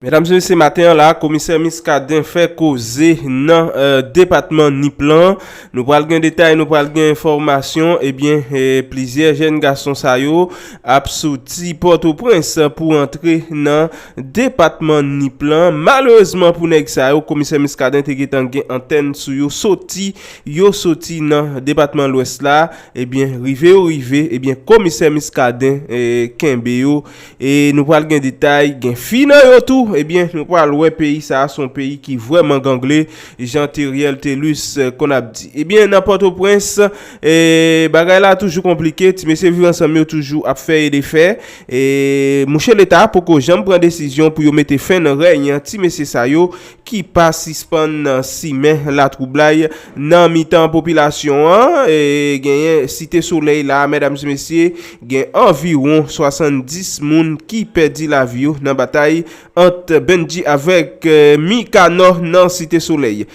Medam se mesye maten an la komisè Miskaden fè koze nan depatman Nip lan, nou pral gen detay nou pral gen enfòmasyon ebyen plizyè jèn gason sa yo ap soti pòtoprens pou antre nan depatman Nip lan malerezman pou nèg sa yo komisè Miskaden te gentan gen antèn sou yo soti yo soti nan depatman lwès la ebyen rive yo rive ebyen komisè Miskaden kenbe yo E nou pral gen detay, gen fi nan yo tou, ebyen nou pral wè peyi sa a son peyi ki vrèman gangle jan Theriel Thelus konn ap di. Ebyen nan Pòtoprens, bagay la toujou konplike, ti mesye Viv Ansanm yo toujou ap fè e defè, e mouche Leta poko janm pran desizyon pou yo mete fen nan rèy ti mesye sa yo, ki pa sispann simen latwoublay nan mitan popilasyon an, genyen Site Solèy la, mèdam e mesye, gen anviwon 70 moun ki pèdi lavi yo nan batay ant Bendji avèk Mikanò nan Site Solèy.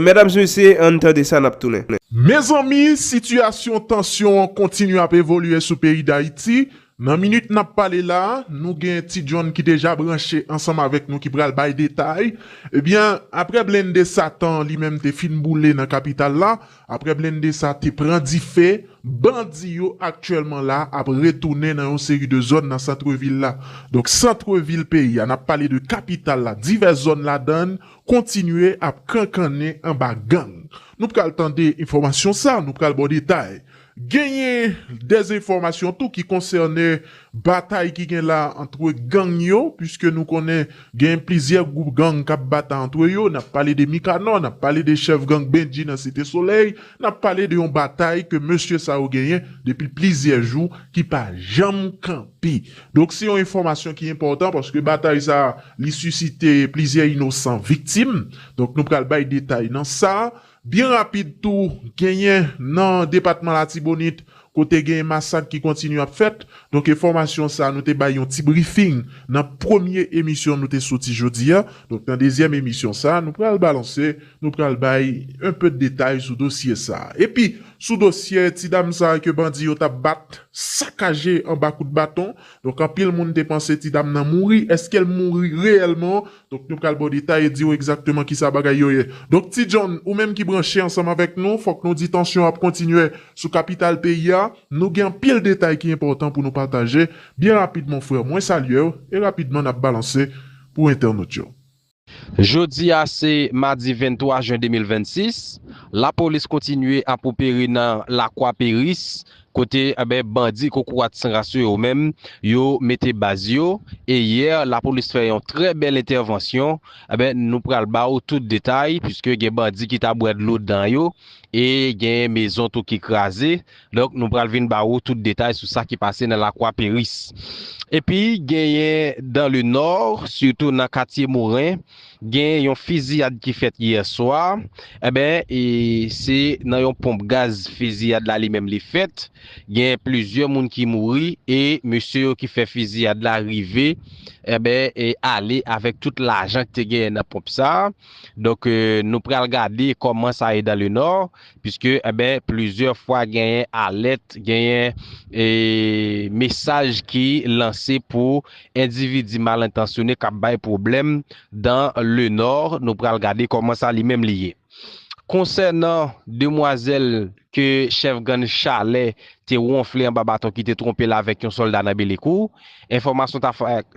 Mèdam e mesye, ann tande sa nap tounen. Mezanmi, sitiyasyon tansyon an kontinye ap evolye sou peyi Dayiti, Nan minit nap pale la, nou gen Ti John ki deja branche ansanm avèk nou ki pral bay detay. Ebyen, aprè blende satan li menm te fin boule nan kapital la, aprè blende sa te pran dife, bandi yo aktyèlman la ap retounen nan yon seri de zòn nan santrevil la. Donk santrevil peyi a, nap pale de kapital la, divès zòn ladann kontinye ap kankannen anba gang. Nou pral tande enfòmasyon sa, nou pral ba w detay. Genyen dezenfòmasyon tou ki konsène batay ki gen la antre gang yo, puiske nou konnen genyen plizyè gwoup gang k ap batay antre yo, n ap pale de Mikanò, n ap pale de chèf gang Bendji nan Site Solèy, n ap pale de yon batay ke mesye sa yo genyen depi plizyè jou ki pa janm kanpe. Donk se yon enfòmasyon ki enpòtan paske batay sa li sisite plizyè inosan viktim, donk nou pral bay detay nan sa. Byen rapid tou, genyen nan depatman Latibonit kote genyen masak ki kontinye ap fèt. Donk enfòmasyon sa a nou te bay yon ti brifing nan premye emisyon nou te soti jodi a. Donk nan dezyèm emisyon sa a nou pral balanse, nou pral bay un peu de detay sou dosye sa a. Epi sou dosye ti dam sa a ke bandi yo t ap bat, sakaje anba kout baton. Donk anpil moun te panse ti dam nan mouri. Eske l mouri reyèlman? Donk nou pral ba w detay e di w egzakteman kisa bagay yo ye. Donk Ti John, ou menm ki branche ansanm avèk nou, fòk nou di tansyon ap kontinye sou kapital peyi a. Nou gen anpil detay ki enpòtan pou nou pataje. Byen rapid mon frère, mwen salye w e rapidman n ap balanse pou entènot yo. Jodi a se madi 23 jen 2026, lapolis kontinye ap opere nan Lakwa Peris, Kote anben bandi kokorat san ras yo menm yo mete baz yo e yè lapolis fè yon trè bèl entèvansyon anben nou pral ba ou tout detay piske gen bandi ki ta bwè dlo dan yo e gen mezon tou ki kraze donk nou pral vin ba ou tout detay sou sa ki pase nan lakwa peris epi genyen dan le nò sitou nan katye moren. Gen yon fiziyad ki fèt yè swa, enben e se nan yon ponp gaz fiziyad la li menm li fèt, gen plizyè moun ki mouri e mesye yo ki fè fiziyad la rive enben e ale avèk tout lajan ki te genyen nan ponp sa, donk nou pral gade kòman sa ye dan le nò, Piske enben plizyè fwa genyen alèt, genyen mesaj ki lanse pou endividi mal entansyone k ap bay pwoblèm dan le nò. Nou pral gade kòman sa li menm li ye. Konsènan demwazèl ke chèf gann Chalè te wonfle anba baton ki te twonpe l avèk yon sòlda nan Belekou, enfòmasyon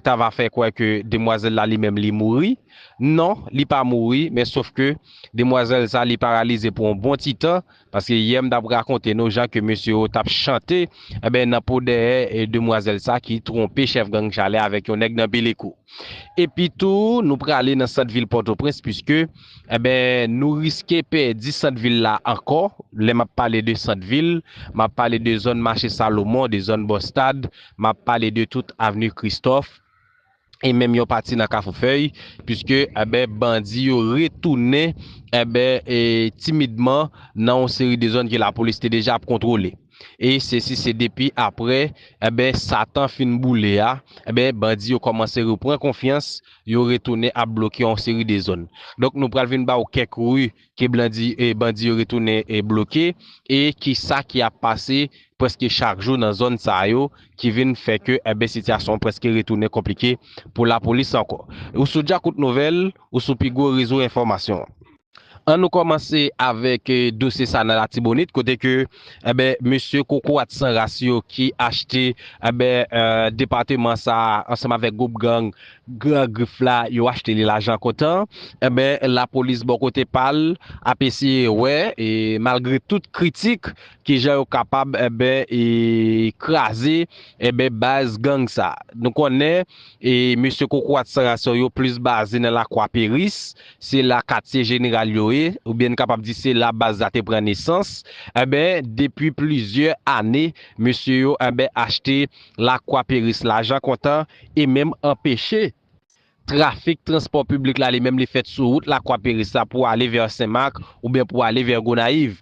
ta va fè kwè ke demwazèl la li menm li mouri. Non li pa mouri men sof ke demwazèl sa li paralize pou yon bon ti tan paske yè m tap rakonte nou jan ke mesye yo tap chante enben nan po dèyè demwazèl sa ki twonpe chèf gang chalè avèk yon nèg nan belekou epi tou nou prale nan sant vil pòtoprens puiske enben nou riske pèdi sant vil la ankò lè map pale de sant vil map pale de zòn mache salomon de zòn bò stad map pale de tout avni kristòf e menm yon pati nan Kafou Fèy, puiske enben bandi yo retounen enben timidman nan yon seri de zòn ke lapolis te deja ap kontwole. E sesi se depi apre enben Satan fin boule a, enben bandi yo kòmanse repran konfyans, yo retounen ap bloke yon seri de zòn. Donk nou pral vin ba ou kèk ri ke bandi yo retounen bloke e ki sa ki ap pase preske chak jou nan zòn sa yo ki vin fè ke enben sitiyasyon an preske retounen konplike pou lapolis ankò. Ou sou Djakout Nouvèl, ou sou pi gwo rezo enfòmasyon an. An nou kòmanse avèk dosye sa nan Latibonit kote ke enben mesye kokorat san ras yo ki achte enben depateman sa ansanm avèk gwoup gang Gran Grif la yo achte li lajan kontan, enben lapolis bò kote pa l ap eseye wè malgre tout kritik kijan yo kapab enben kraze enben baz gang sa. Nou konnen mesye kokorat san rasyon yo plis baze nan Lakwa Peris, se la katye jeneral yo ye oubyen n kapab di se la baz la te pran nesans, enben depi plizyè ane mesye yo enben achte Lakwa Peris lajan kontan e menm anpeche trafik transpò piblik la li menm li fèt sou wout Lakwa Peris la pou ale vè Sen Mak oubyen pou ale vè Gonayiv.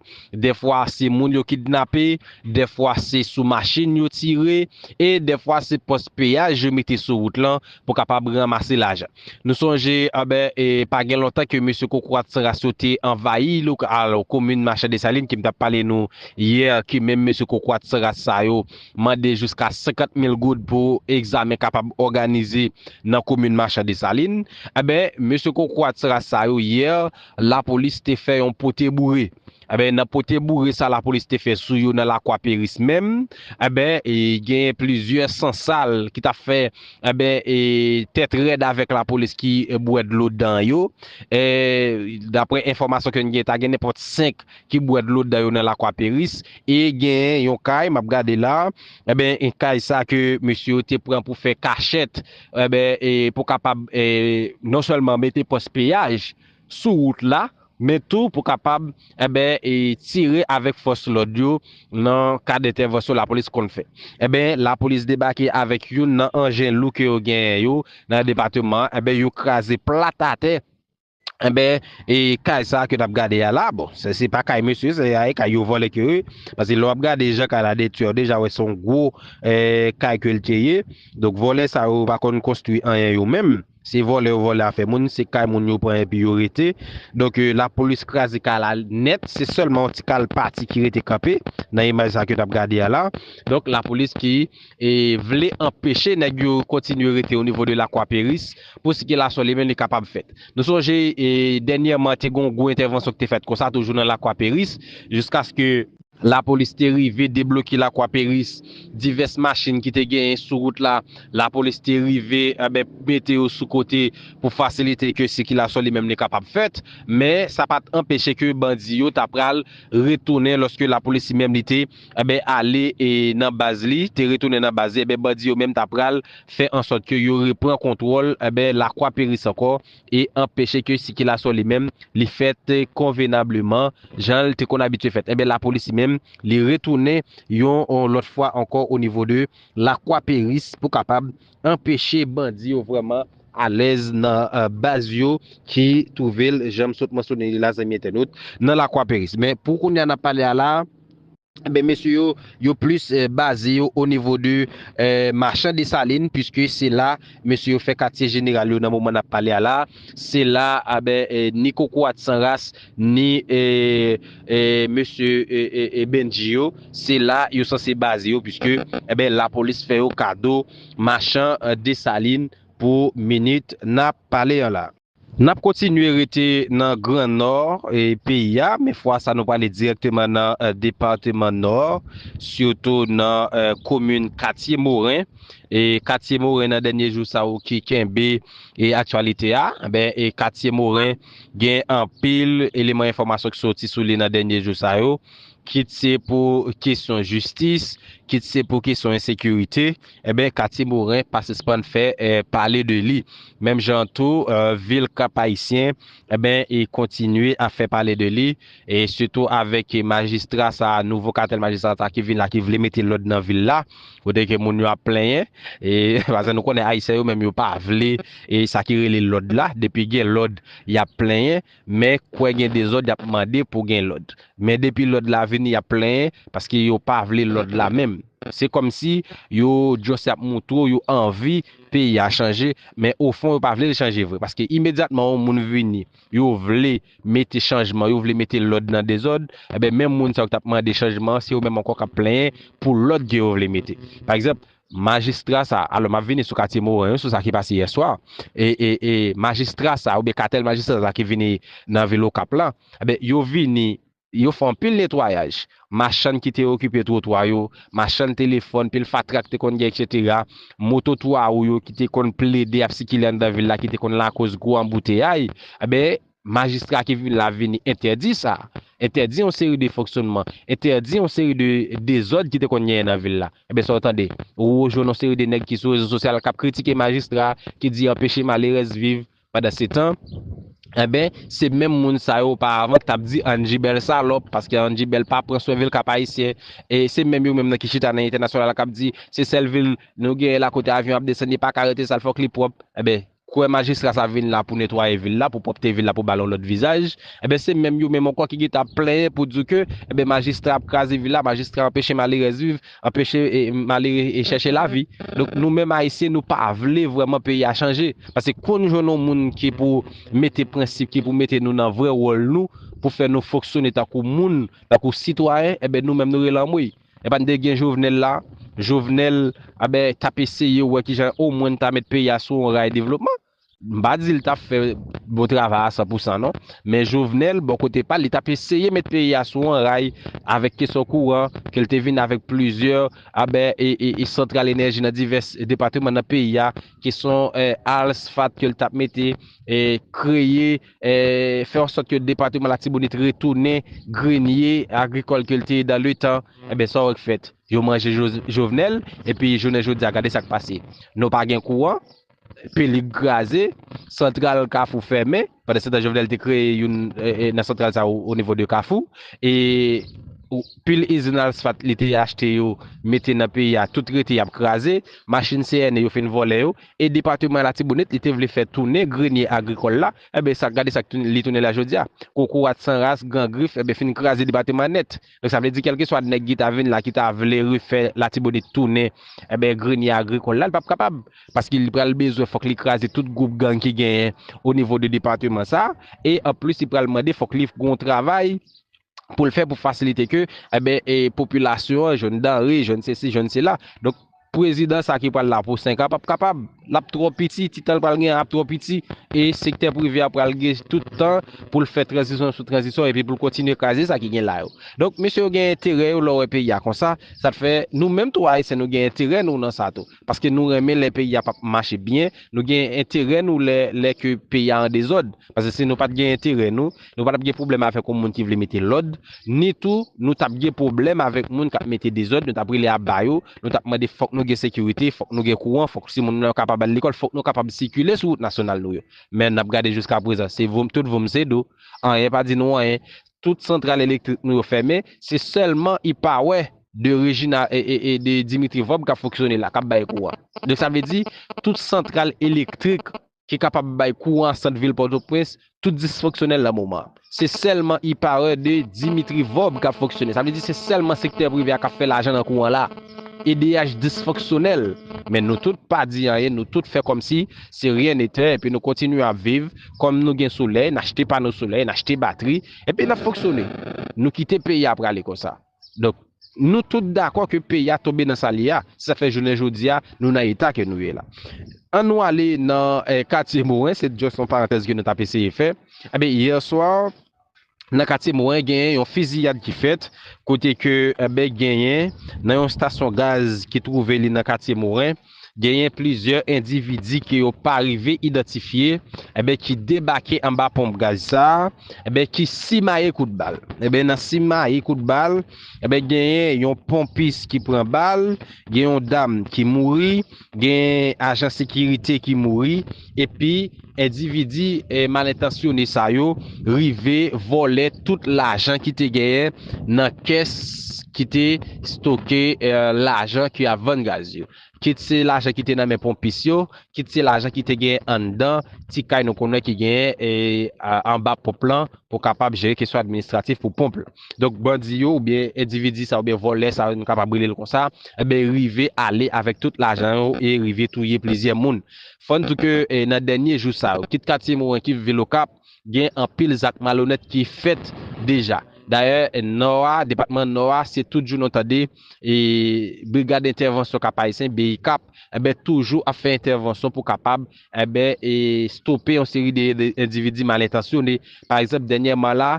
Dèfwa se moun yo kidnape, dèfwa se sou machin yo tire e dèfwa se pòs peyaj yo mete sou wout lan pou kapab ranmase lajan. Nou sonje anben e pa gen lontan ke mesye koukourat san ras yo te anvayi lokal komin Machè Desalin ke m t ap pale nou yè ke menm mesye koukourat san ras sa yo mande jiska 50 mil goud pou egzamen kapab òganize nan komin Machan Desalin, enben mesye kokorat ras sa yo yè lapolis te fè yon pote boure, enben nan pote boure sa lapolis te fè sou yo nan lakwa peris menm, enben genyen plizyè san sal ki tap fè enben tèt rèd avèk lapolis ki bwè dlo dan yo, daprè enfòmasyon ke n genyen ta gen nenpòt 5. ki bwè dlo dan yo nan lakwa peris e genyen yon kay map gade la enben kay sa ke mesye yo te pran pou fè kachèt enben pou kapab non sèlman mete pòs peyaj sou wout la men tou pou kapab enben tire avèk fòs lòd yo nan kad entèvansyon lapolis konn fè enben lapolis debake avèk youn nan anjen lou ke yo genyen yo nan depateman enben yo kraze plat atè. Enben, e kay sa ke nap gade a la, bon, se se pa kay mesye, se a e kay yo vòlè ke ye, pase lè wap gade jan kay la detwi a, ou deja wè se yon gwo kay ke l te ye, donk vòlè sa yo pa konn konstwi anyen yo menm, se vòlè yo vòlè afè moun, se kay moun yo pran epi yo rete, donk lapolis kraze kay la nèt, se sèlman yon ti kal pati ki rete kanpe nan imaj sa ke nap gade a la, donk lapolis ki. e vle anpeche nèg yo kontinye rete o nivo de Lakwa Peris pou sikilasyon limen li kapab fèt. Nou sonje dènyèman te gen yon gwo entèvansyon ki te fèt konsa toujou nan Lakwa Peris jiskaske. Lapolis te rive debloke Lakwa Peris, divès machin ki te genyen sou wout la, Lapolis te rive enben mete yo sou kote pou fasilite ke sikilasyon li menm li kapab fèt, men sa pa t anpeche ke bandi yo ta pral retounen lòske Lapolis li menm li te. Enben ale e nan baz li, te retounen nan baz li, enben bandi yo menm ta pral fè ansòt ke yo repran kontwòl, enben Lakwa Peris ankò e anpeche ke sikilasyon li menm li fèt konvenableman jan l te konn abitye fèt. Enben lapolis li menm li retounen yon lòt fwa ankò o nivo de Lakwa Peris pou kapab anpeche bandi yo vrèman alèz nan baz yo ki twouve l, jan m sot mansyone li la zanmi entènot, nan Lakwa Peris. Men, pou kounye a n ap pale a la a, enben mesye yo, yo plis baze yo onivo de Machan Desalin, piske se la mesye yo fè katye jeneral yo nan moman n ap pale a la a. Se la a, enben, ni kokorat san ras, ni mesye Bendji yo se la yo sanse baze yo puiske enben lapolis fè yo kado machan Desalin pou minit nap pale an la. Nap kontinye rete nan gran nò peyi a men fwa sa nou prale dirèkteman nan departeman nò sitou nan komin katye moren katye moren nan dènye jou sa yo ki kenbe aktyalite a enben katye moren. Gen anpil eleman enfòmasyon ki soti sou li nan dènye jou sa yo, kit se pou kesyon jistis, kit se pou kesyon ensekirite, enben katye Moren pa sispann fè pale de li. Menm jan an tou, vil Kap-Ayisyen, enben, kontinye ap fè pale de li. e sitou avèk majistra sa a, nouvo katèl majistra sa a ki vin la, ki vle mete lòd nan vil la, kote ke moun yo ap plenyen, e paske nou konnen Ayisyen yo menm yo pa vle e sa ki rele lòd la, depi gen lòd y ap plenyen, men kwè gen dezòd y ap mande pou gen lòd. Men depi lòd la vini y ap plenyen, paske yo pa vle lòd la menm. Se kòmsi yo just ap moutre w yo anvi peyi a chanje, men ofon yo pa vle l chanje vre, paske imedyatman yon moun vini, Yo vle mete chanjman, yo vle mete lòd nan dezòd, enben menm moun sa yo ki t ap mande chanjman an, se yo menm ankò k ap plenyen pou lòd ke yo vle mete. Pa egzanp, majistra sa, alò m ap vini sou katye Moren yo, sou sa ki pase yèswa, e, e, e majistra sa oubyen katèl majistra sa ki vini nan vil Okap la, enben yo vini Yo fè anpil netwayaj. Machann ki te okipe twotwa yo, machann telefòn, pil fatra ki te konn gen eksetera, moto twa wou yo ki te konn plede ap sikile anndan vil la ki te konn lakoz gwo anbouteyay, enben majistra ki vin la vini entèdi sa. Entèdi yon seri de fonksyonnman, entèdi yon seri de dezòd ki te konn genyen nan vil la. Enben sa w tande? Wou jwenn yon seri de nèg ki sou rezo sosyal k ap kritike majistra, ki di anpeche malerèz viv. Pandansetan, enben, se menm moun sa yo oparavan ki t ap di Angie bèl salòp, paske Angie bèl pa pran swen vil Kap Ayisyen. E se menm yo menm nan ki chita nan entènasyonal k ap di se sèl vil nou genyen la kote avyon ap desann li pa ka rete sal fòk li pwòp. Enben, kwè majistra sa vin la pou netwaye vil la, pou pwòpte vil la pou ba l yon lòt vizaj. Enben, se menm yo menm ankò ki gentan ap plenyen pou di w ke enben majistra ap kraze vil la, majistra anpeche malerèz viv. anpeche malere chèche lavi. Donk nou menm ayisyen nou pa vle vrèman peyi a chanje. Pase kou nou jwenn yon moun ki pou mete prensip, ki pou mete nou nan vrè wòl nou, pou fè nou fonksyone tankou moun, tankou sitwayen, enben nou menm nou rele anmwey. Epa n te gen Jovenel la, Jovenel, anben t ap eseye wè kijan omwen n ta met peyi a sou yon ray devlopman. M pa di li tap fè bon travay a san pou san non, men Jovenel bò kote pa l, li tap eseye met peyi a sou on ray avèk kesyon kouran ke l te vin avèk plizyè abè e santral enèji nan divès depateman nan peyi a, kesyon alsfat ke l tap mete, kreye, fè an sòt ke depateman Latibonit retounen grenye agrikòl ke l te ye dan le tan, enben sa wè k fèt? Yo manje Jovenel epi jounen jodi a gade sa k pase, nou pa gen kouran, Felip kraze, santral kafou fèmen, pandan se tan Jovenel te kreye youn nan santral sa yo o nivo de kafou, e pil izin alsfat li te achte yo mete nan peyi a tout rete yap kraze, machin CNE yo fin vòlè yo, e depateman latibonit li te vle fè tounen grenye agrikòl la, enben sa gade sa li tounen la jodi a, kokorat san ras, gran grif, enben fin kraze depateman nèt. Donk sa vle di kèlkeswa nèg ki ta vin la ki ta vle refè Latibonit tounen enben grenye agrikòl la li pap kapab paske li pral bezwen fòk li kraze tout gwoup gang ki genyen onivo de depateman sa e anplis li pral mande fòk li gon travay pou l fè pou fasilite ke enben popilasyon an jwenn danre jwenn sesi jwenn sela donk Prezidan sa ki pral la pou 5 an pap kapab, lap twò piti, ti tan l pral gen an ap twò piti e sektè prive a pral gen tout tan pou l fè tranzisyon sou tranzisyon epi pou l kontinye kraze sa ki gen la yo. Donk mesye yo gen enterè yo lè w wè peyi a konsa, sa t fè nou menm tou Ayisyen nou gen enterè nou nan sa tou. Paske nou renmen lè peyi a pap mache byen, nou gen enterè nou lè lè ke peyi a an dezòd. Paske si nou pat gen enterè nou, nou pa tap gen pwoblèm avèk yon moun ki vle mete lòd, ni tou nou tap gen pwoblèm avèk moun kap mete dezòd, nou tap rele aba yo, Nou t ap mande fòk nou gen sekirite, fòk nou gen kouran, fòk timoun nou yo kapab al lekòl, fòk nou kapab sikile sou wout nasyonal nou yo. Men, n ap gade jiskaprezan, se voum tout voum se dou. Anyen pa di nou anyen. Tout santral elektrik nou yo fèmen, se sèlman y pa wè de Rejina e de Dimitri Vòb k ap fonksyone la, k ap bay kouran. Donk sa vle di, tout santral elektrik ki kapab bay kouran sant vil Pòtoprens tout disfonksyonèl nan moman an. Se sèlman E-Power de Dimitri Vorbe kap fonksyone. Sa vle di se sèlman sektè prive a kap fè lajan nan kouran la. Edeyach disfonksyonèl, men nou tout pa di anyen, nou tout fè kòmsi se ryen netè epi nou kontinye ap viv kòm nou gen solèy, n achte pano solèy, n achte batri, epi n ap fonksyone. Nou kite peyi a prale konsa. Donk, nou tout dakò ke peyi a tonbe nan sa l ye a, se sa k fè jounen jodi a nou nan eta ke nou ye la. An nou ale nan katye Moren, se just yon parantèz ke nou t ap eseye fè. Enben, yè swa, nan katye Moren genyen yon fiziyad ki fèt, kote ke, enben, genyen nan yon stasyon gaz ki twouve li nan katye Moren, genyen plizyè endividi ke yo pa rive idantifye eben ki debake anba ponp gaz sa eben ki simaye kout bal eben nan simaye kout bal eben genyen yon ponpis ki pran bal gen yon dam ki mouri gen ajan sekirite ki mouri. Epi endividi malentansyone sa yo rive vòlè tout lajan ki te genyen nan kès ki te stoke lajan ki ap vann gaz yo. Kit se lajan ki te nan men ponpis yo, kit se lajan ki te genyen anndan ti kay nou konnen ki genyen anba ponp lan pou kapab jere kesyon administratif pou ponp lan. Donk bandi yo oubyen endividi sa yo oubyen vòlè sa yo nou kapab rele l konsa, rive ale avèk tout lajan yo e rive touye plizyè moun. Fò n di ke nan dènye jou sa yo, kit katye Moren kip vil Okap, gen anpil zak malonèt ki fèt deja. Dayè Nò a, depatman Nò a, se tout jou nou tande Brigad Entèvansyon Kap-Ayisyen, BICAP, enben toujou ap fè entèvansyon pou kapab enben stope yon seri de endividi malentansyone. Pa egzanp, dènyèman la,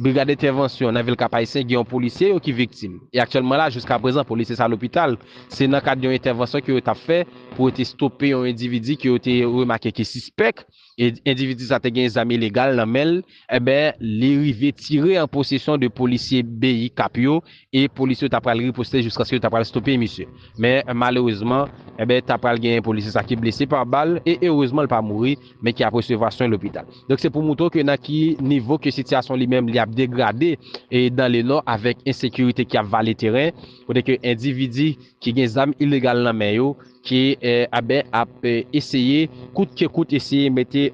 Brigad entèvansyon nan vil Kapayisyen gen yon polisye yo ki viktim. E aktyèlman la jiskaprezan polisye sa lopital. Se nan kad yon entèvansyon ke yo tap fè pou yo te stope yon endividi ke yo te remake ki sispèk. E endividi sa te gen zam ilegal nan menl. Eben li rive tire an posesyon 2 polisye BICAP yo e polisye yo ta pral riposte jiskaske yo ta pral stope misye. Men malerezman, enben ta pral gen polisye sa ki blese pa bal e erezman l pa mouri, men ki ap resevwa swen lopital. Donk se pou moutre w ke nan ki nivo ke sitiyasyon li menm li ap degrade e dan le Nò avèk ensekirite ki ap vale teren, kote ke endividi ki gen zam ilegal nan men yo ki enben ap eseye kout ke kout eseye mete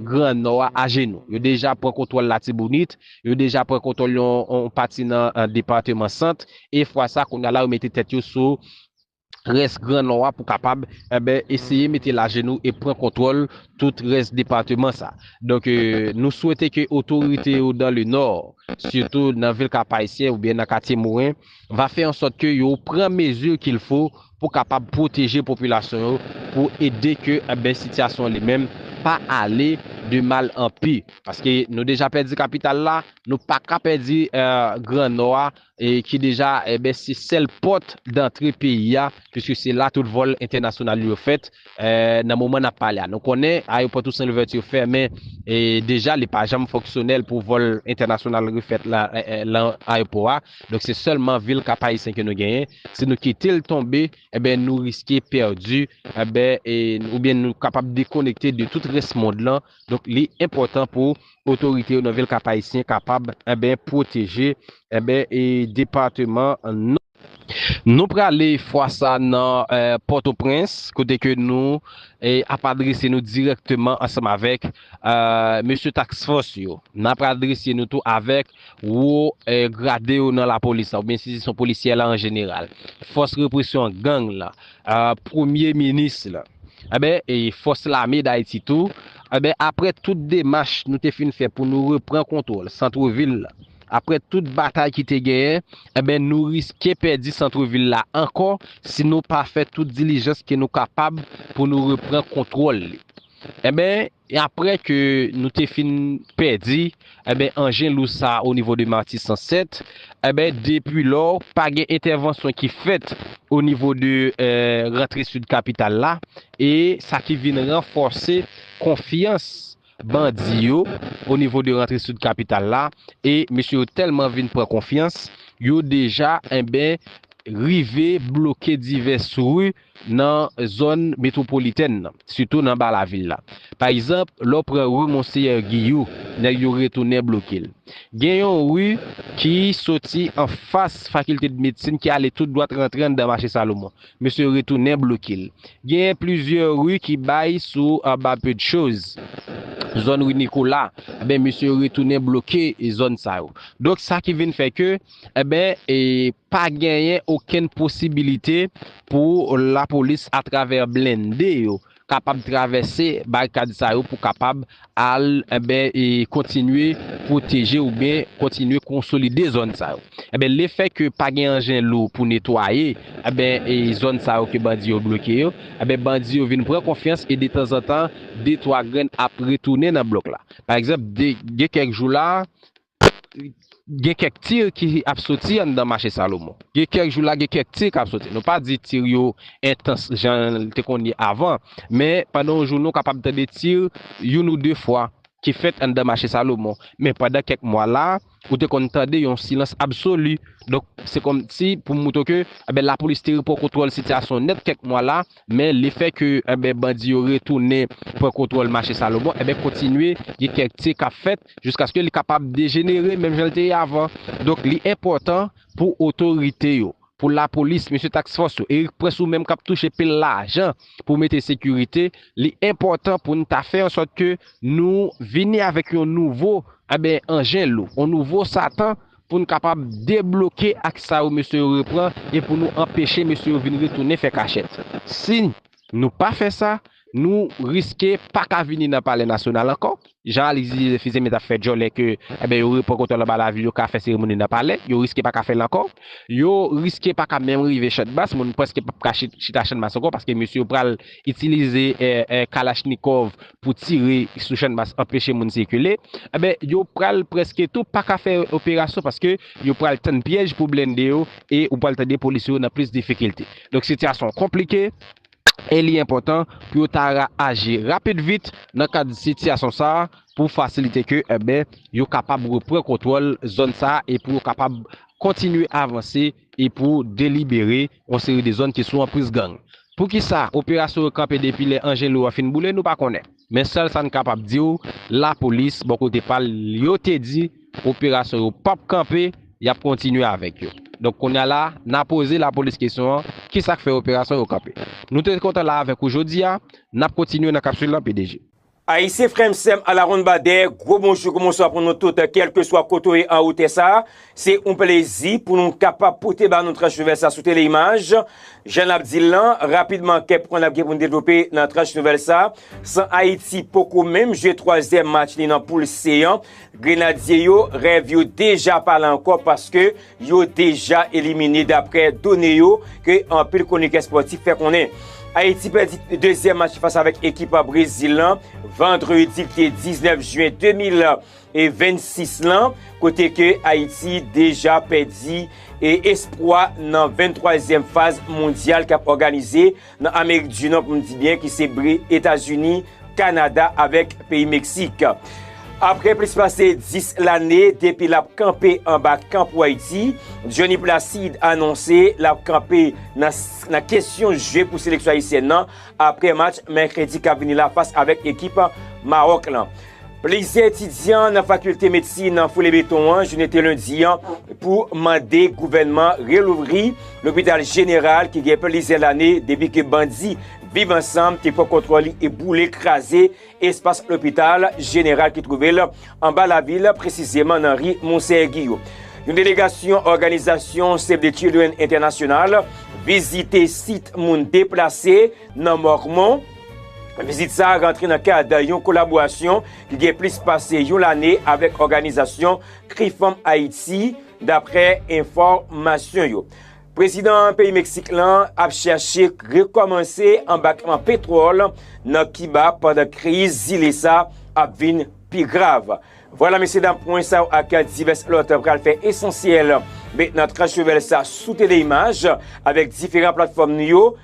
gran Nò a ajenou. Yo deja pran kontwòl Latibonit, Yo deja pran kontwòl yon pati nan depateman Sant e fwa sa kounya la yo mete tèt yo sou rès gran Nò a pou kapab eseye mete lajenou e pran kontwòl tout rès depateman sa. Donk nou swete ke otorite yo dan le Nò, sitou nan vil Kap-Ayisyen oubyen nan katye Moren va fè an sòt ke yo pran mezi kilfo pou kapab pwoteje popilasyon yo pou ede ke enben sitiyasyon li menm pa ale de mal an pi paske nou deja pèdi kapital la nou pa ka pèdi gran nò a ki deja enben se sèl pòt dantre peyi a piske se la tout vòl entènasyonal yo fèt nan moman nap pale a nou konnen ayopò Toussaint Louverture fèmen deja li pa janm fonksyonèl pou vòl entènasyonal refèt lan ayopò a. Donk se sèlman vil kap ayisyen ke nou genyen, si nou kite l tonbe enben nou riske pèdi enben oubyen nou kapab dekonekte de tout rès mond lan, donk li enpòtan pou otorite yo nan vil kap ayisyen kapab enben pwoteje enben depateman nou. Nou prale fwa sa nan pòtoprens kote ke nou ap adrese nou dirèkteman ansanm avèk mesye task fòs yo, nap adrese nou tou avèk Wo grade yo nan lapolis la oubyen enstitisyon polisyè la an jeneral, fòs represyon gang la, premye minis la, enben fòs lame Dayiti tou, enben aprè tout demach nou te fin fè pou nou repran kontwòl santrevil la, aprè tout batay ki te genyen, enben nou riske pèdi santrevil la ankò si nou pa fè tout dilijans ke nou kapab pou nou repran kontwòl li. Enben. E apre ke nou te fin pèdi, enben, anjen lou sa a onivo de Matisan 7, enben, depi lò, pa gen entèvansyon ki fèt onivo de rantre sid kapital la, e sa ki vin ranfòse konfyans bandi yo onivo de rantre sid kapital la, e mesye yo tèlman vin pran konfyans, yo deja, enben, rive bloke divès ri. nan zòn metwopolitèn nan, sitou nan ba lavil la. Pa egzanp, lè w pran ri Monseyè Giyou, nèg yo retounen bloke l. Gen yon ri ki soti anfas Fakiltedmedsin ki ale tout dwat rantre anndan Mache Salomon. Mesye retounen bloke l. Genyen plizyè ri ki bay sou anba Pedchoz, zòn ri Nikola, enben mesye retounen bloke zòn sa yo. Donk sa ki vin fè ke, enben, Pa genyen okenn posibilite pou lapolis atravè blende yo kapab travèse barikad sa yo pou kapab al kontinye pwoteje oubyen kontinye konsolide zòn sa yo. Le fè ke pa gen anjen lou pou netwaye zòn sa yo ke bandi yo bloke yo, bandi yo vin pran konfyans e detanzantan de twa grenn ap retounen nan blòk la. Pa egzanp, gen kèk jou la, Gen kèk tir ki ap soti anndan mache Salomon. Gen kèk jou la gen kèk tir kap soti. Nou pa di tir yo entans jan li te konn ye avan, men pandan yon jounen ou kapab tande tir youn ou de fwa ki fèt anndan mache Salomon. Men pandan kèk mwa la, ou te konn tande yon silans absoli. Donk se kòmsi pou moutre w ke enben lapolis te repran kontwòl sitiyasyon nèt kèk mwa la, men le fè ke enben bandi yo retounen pran kontwòl mache Salomon, enben kontinye gen kèk tir kap fèt. jiskaske li kapab dejenere menm jan li te ye avan, donk li enpòtan pou otorite yo, pou lapolis, mesye task fòs yo, Erik Prince ou menm k ap touche pil lajan pou mete sekirite, li enpòtan pou n ta fè an sòt ke nou vini avèk yon nouvo enben anjen lou, yon nouvo satan pou n kapab debloke ak sa yo mesye yo repran e pou nou anpeche mesye yo vin retounen fè kachèt. Si. Nou pa fè sa, nou riske pa ka vini nan palè nasyonal ankò. Jan Alix di Joseph Fils-Aimé t ap fè djòlè ke enben yo repran kontwòl anba lavil yo ka fè seremoni nan palè, yo riske pa ka fè l ankò. Yo riske pa ka menm rive Chandmas, moun prèske p ap ka chita Chandmas ankò paske mesye yo pral itilize kalachnikòv pou tire sou Chandmas anpeche moun sikile. Enben yo pral prèske tou pa ka fè operasyon paske yo pral tann pyèj pou blende yo e ou pral tande polis yo nan plis difikilte. Donk sitiyasyon an konplike e li enpòtan pou yo ta ra aji rapid vit nan kad sitiyasyon sa a pou fasilite ke enben yo kapab repran kontwòl zòn sa a e pou yo kapab kontinye avanse e pou delibere yon seri de zòn ki sou anpriz gang. Poukisa operasyon yo kanpe depi lè Angelo a fin boule nou pa konnen. Men sèl sa n kapab di w, lapolis bò kote pa l yo te di operasyon yo pap kanpe, y ap kontinye avèk yo. Donk kounye a la, n a poze lapolis kesyon an, ki sa k fè operasyon yo kanpe? Nou te kontan la avèk ou jodi a, n ap kontinye nan kapsul lan pdg. Ayisyen frè m sè m alawonnbadè, gwo bonjou gwo bonswa pou nou tout kèlkeswa kote w ye anwo tè sa a, Se yon plezi pou nou kapab pote ba nou tranch nouvèl sa sou Teleimaj. Jan n ap di l lan, rapidman kèk pwen n ap gen pou n devlope nan tranch nouvèl sa. San Ayiti poko menm jwe twazyèm match li nan poul Se an, Grenadye yo, rèv yo deja pa la ankò paske yo deja elimine daprè done yo ke anpil kwonikè spòtif fè konnen. Ayiti pèdi dezyèm match li fas avèk ekip Brezil lan vandredi ki te 19 jyen 2000. e 26 lan kote ke Ayiti deja pèdi e espwa nan 23 zièm faz mondyal kap òganize nan Amerik di Nò pou m di byen ki se bre Etazini, Kanada avèk peyi Meksik. Aprè plis pase 10 lane depi lap kanpe anba kan pou Ayiti, Dyony Placide anonse lap kanpe nan kesyon jwe pou seleksyon ayisyèn nan aprè match mèkredi kap vini la fas avèk ekip Maròk lan. Plizyè etidyan nan fakilte medsin an foule beton an jounen te lendi an pou mande gouvènman relouvri lopital jeneral ki gen plizyè lane depi ke bandi Viv Ansanm te pran kontwòl li e boule kraze espas lopital jeneral ki twouve l anba lavil presizeman nan ri Monseyè Giyo. Yon delegasyon òganizasyon Save the Children Entènasyonal vizite sit moun deplase nan Mòkmon. Vizit sa a rantre nan kad yon kolaborasyon ki gen plis pase yon lane avèk òganizasyon Kri Fanm Ayiti, daprè enfòmasyon yo. Prezidan peyi Meksik lan ap chèche rekòmanse anbakman petwòl nan Kiba pandan kriz zile sa ap vin pi grav. Vwala mesye dam pwen sa yo ak divès lòt pral fè esansyèl men nan tranche nouvèl sa sou TDImage avèk diferan platfòm nou yo.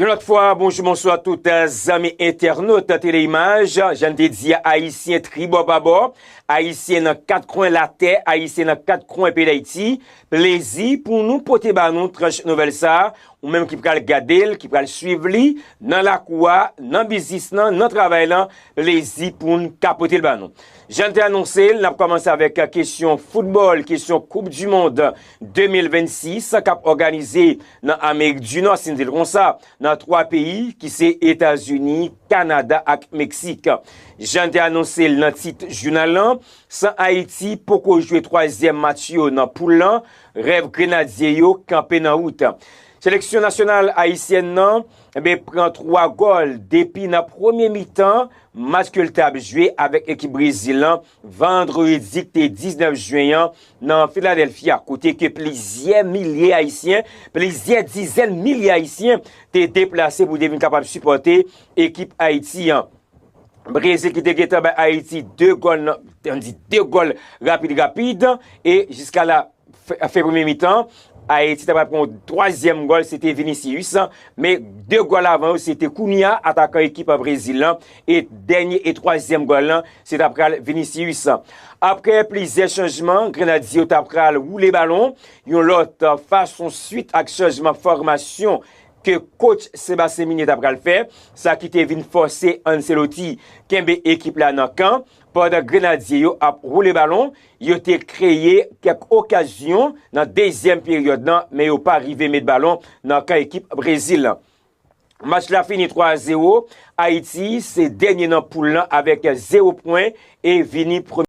Yon lòt fwa, bonjou bonswa tout zanmi entènot Teleimaj, jan n te di a Ayisyen tribò pabò, Ayisyen nan kat kwen latè, Ayisyen nan kat kwen peyi Dayiti, plezi pou nou pote ba nou tranch nouvèl sa, ou menm ki pral gade l, ki pral swiv li, nan lakou a, nan biznis lan, nan travay lan, plezi pou n ka pote l ba nou. Jan n te anonse l, n ap kòmanse avèk kesyon foutbòl, kesyon koup dimond 2026 k ap òganize Nan Amerik di Nò, si n di l kon sa, nan twa peyi ki se Etazini, Kanada ak Meksik. Jan n te anonse l nan tit jounal lan, san Ayiti poko jwe twazyèm match yo nan poul lan, rèv Grenadye yo kanpe nan wout. Seleksyon nasyonal ayisyèn nan pran twa gòl depi nan premye mitan match ke l t ap jwe avèk ekip Brezil lan Vandredi ki te 19 Jyen an nan Philadelphia kote ke plizyè milye Ayisyen, plizyè dizèn milye Ayisyen te deplase pou te vin kapab sipòte ekip Ayiti an. Brezil ki te gentan bay Ayiti 2 gòl nan, an di 2 gòl rapid rapid e jiska la. Fen premye mitan, Ayiti ta pral pran yon twazyèm gòl, se te Vinicius, men 2 gòl avan yo se te Cunha, atakan ekip Brezil lan, e dènye e twazyèm gòl lan, se ta pral Vinicius. Aprè plizyè chanjman, Grenadye yo ta pral woule balon yon lòt fason swit ak chanjman fòmasyon ke kotch Sébastien Migné ta pral fè, sa ki te vin fòse Ancelotti kenbe ekip la nan kan. Pandan Grenadye yo ap woule balon, yo te kreye kèk okazyon nan dezyèm peryòd lan men yo pa rive met balon nan kan ekip Brezil lan. Match la fini 3 a 0, Ayiti se dènye nan poul lan avèk 0 pwen e vini premye.